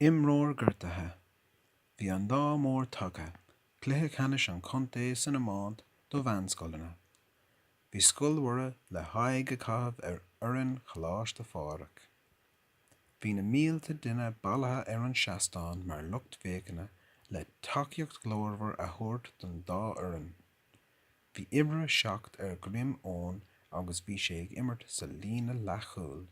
Imreoir gortaithe. Bhí an lá mór tagtha, cluiche ceannais an chontae san iomáint do mheánscoileanna. Bhí Scoil Mhuire le haghaidh a chaitheamh ar fhoireann Choláiste Phádraig. Bhí na mílte daoine bailithe ar an seastán mar lucht féachana le tacaíocht ghlórmhar a thabhairt don dá fhoireann. Bhí uimhir a 7 ar dhroim Eoin agus bhí sé ag imirt sa líne leathchúil.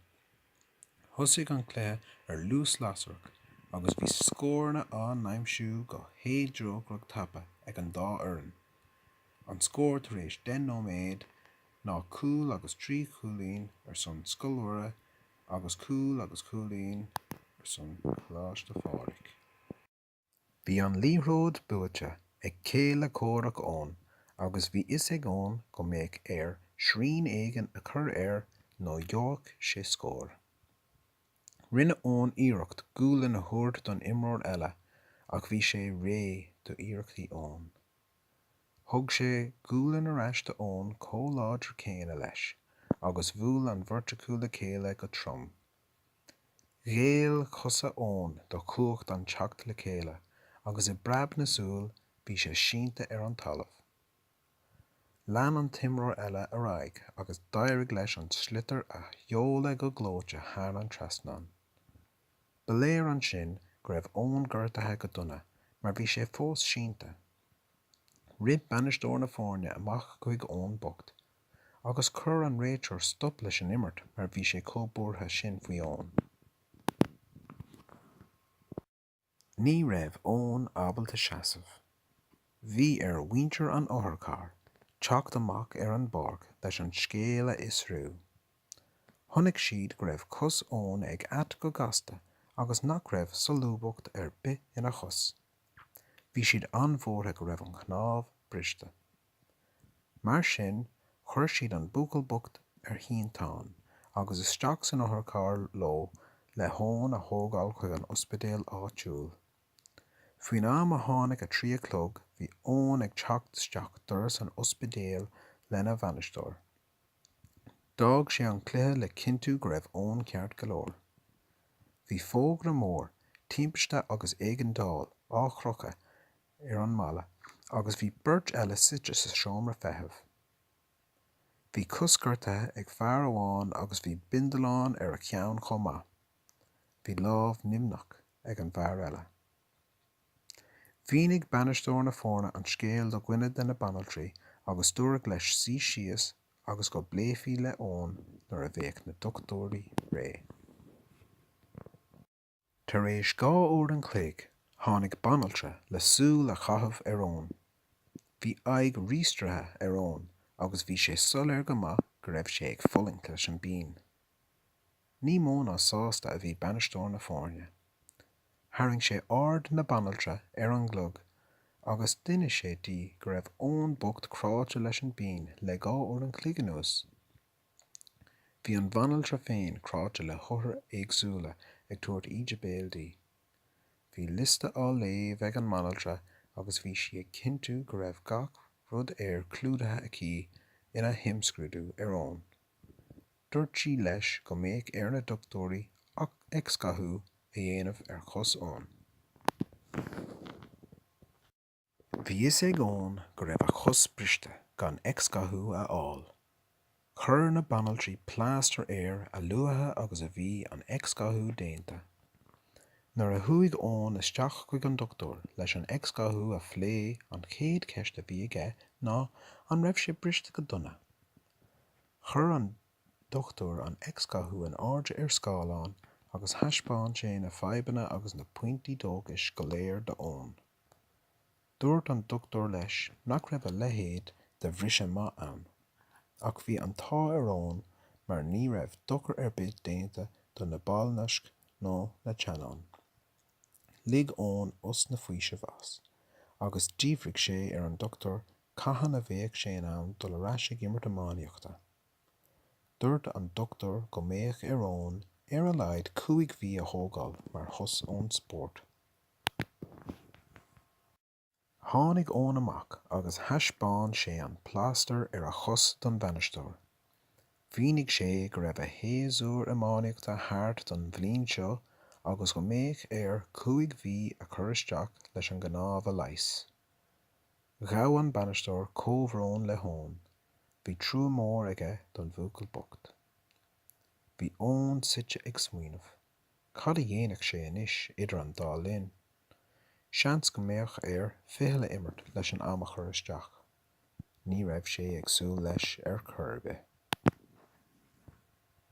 Thosaigh an cluiche ar luas lasrach agus bhí scóranna á n-aimsiú go héadrócaireach, tapa ag an dá fhoireann. An scór tar éis deich nóiméad ná cúl agus trí chúilín ar son Scoil Mhuire agus cúl agus cúilín ar son Coláiste Phádraig. Bhí an liathróid buaite ag céile comhraic Eoin agus bhí a fhios ag Eoin go mbeadh air srian éigin a chur air nó gheobhadh sé scór. Rinne Eoin iarracht gualainn a thabhairt don imreoir eile ach bhí sé réidh d'iarrachtaí Eoin. Thug sé gualainn ar ais do Eoin chomh láidir céanna leis agus bhuail an bheirt acu le chéile go trom. Ghéill cosa Eoin do chumhacht an teacht le chéile agus i bpreabadh na súl bhí sé sínte ar an talamh. Lean an t-imreoir eile ar aghaidh agus d'éirigh leis an sliotar a sheoladh go gleoite thar an trasnán. Ba léir ansin go raibh Eoin gortaithe go dona mar bhí sé fós sínte. Rith bainisteoir na foirne amach chuig Eoin bocht agus chuir an réiteoir stop leis an imirt mar bhí sé chomh buartha sin faoi Eoin. Ní raibh Eoin ábalta seasamh. Bhí ar mhuintir an otharchairr teacht amach ar an bpáirc leis an scéal a fhiosrú. Chonaic siad go raibh cos Eoin ag at go gasta agus nach raibh solúbthacht ar bith ina chos. Bhí siad an-bhuartha go raibh an chnámh briste. Mar sin, chuir siad an buachaill bocht ar shínteán agus isteach san otharcharr leo le hEoin a thógáil chuig an ospidéal áitiúil. Faoin am a tháinig a trí a chlog bhí Eoin ag teacht isteach doras an ospidéil lena bhainisteoir. D'fhág sé an cluiche le cinntiú go raibh Eoin ceart go leor. Bhí fógra mór, Timpiste agus Éigeandáil, ar crochadh ar an mballa agus bhí beirt eile suite sa seomra feithimh. Bhí cos gortaithe ag fear amháin agus bhí bindealán ar a cheann chomh maith. Bhí lámh nimhneach ag an bhfear eile. Mhínigh bainisteoir na foirne an scéal do dhuine de na banaltraí agus dúradh leis suí síos agus go bpléifí le Eoin nuair a bheadh na dochtúirí réidh. Tar éis dhá uair an chloig tháinig banaltra le súil a chaitheamh ar Eoin. Bhí aghaidh ríastraithe ar Eoin agus bhí sé soiléir go maith go raibh sé ag fulaingt leis an bpian. Ní mó ná sásta a bhí bainisteoir na foirne. Tharraing sé aird na banaltra ar an gclog agus d'inis sé di go raibh Eoin bocht cráite leis an bpian le dhá uair an chloig anuas. Bhí an bhanaltra féin cráite le hothair éagsúla ag tabhairt íde béil di. Bhí liosta á léamh ag an mbanaltra agus bhí sí ag cinntiú go raibh gach rud air clúdaithe aici ina himscrúdú ar Eoin. Dúirt sí leis go mbeadh ar na dochtúirí x-ghathú a dhéanamh ar chos Eoin. Bhí a fhios ag Eoin go raibh a chos briste gan x-ghathú a fháil. Chuir na banaltraí plástar air a luaithe agus a bhí an x-ghathú déanta. Nuair a chuaigh Eoin isteach chuig an dochtúir leis an x-ghathú a phlé an chéad cheist a bhí aige ná an raibh sé briste go dona. Chuir an dochtúir an x-ghathú in airde ar scáileán agus thaispeáin sé na fadhbanna agus na pointí dóchais go léir d'Eoin. Dúirt an dochtúir leis nach raibh a leithéid de bhriseadh maith ann. Ach bhí an t-ádh ar Eoin mar ní raibh dochar ar bith déanta do na ballnaisc ná na teannáin. Lig Eoin osna faoisimh as, agus d'fhiafraigh sé ar an dochtúir cathain a bheadh sé in ann dul ar ais ag imirt iománaíochta. Dúirt an dochtúir go mbeadh ar Eoin ar a laghad cúig mhí a thógáil mar shos ón spórt. Tháinig Eoin amach agus thaispeáin sé an plástar ar a chos don bhainisteoir. Mhínigh sé go raibh a shéasúr iománaíochta thart don bhliain seo agus go mbeadh air cúig mhí a chur isteach leis an gcnámh a leigheas. Ghabh an bainisteoir comhbhrón le hEoin. Bhí trua mór aige don bhuachaill bocht. Bhí Eoin suite ag smaoineamh. Cad a dhéanfadh sé anois idir an dá linn? Seans go mbeadh air ficheall a imirt leis an am a chur isteach. Ní raibh sé ag súil leis ar chor ar bith.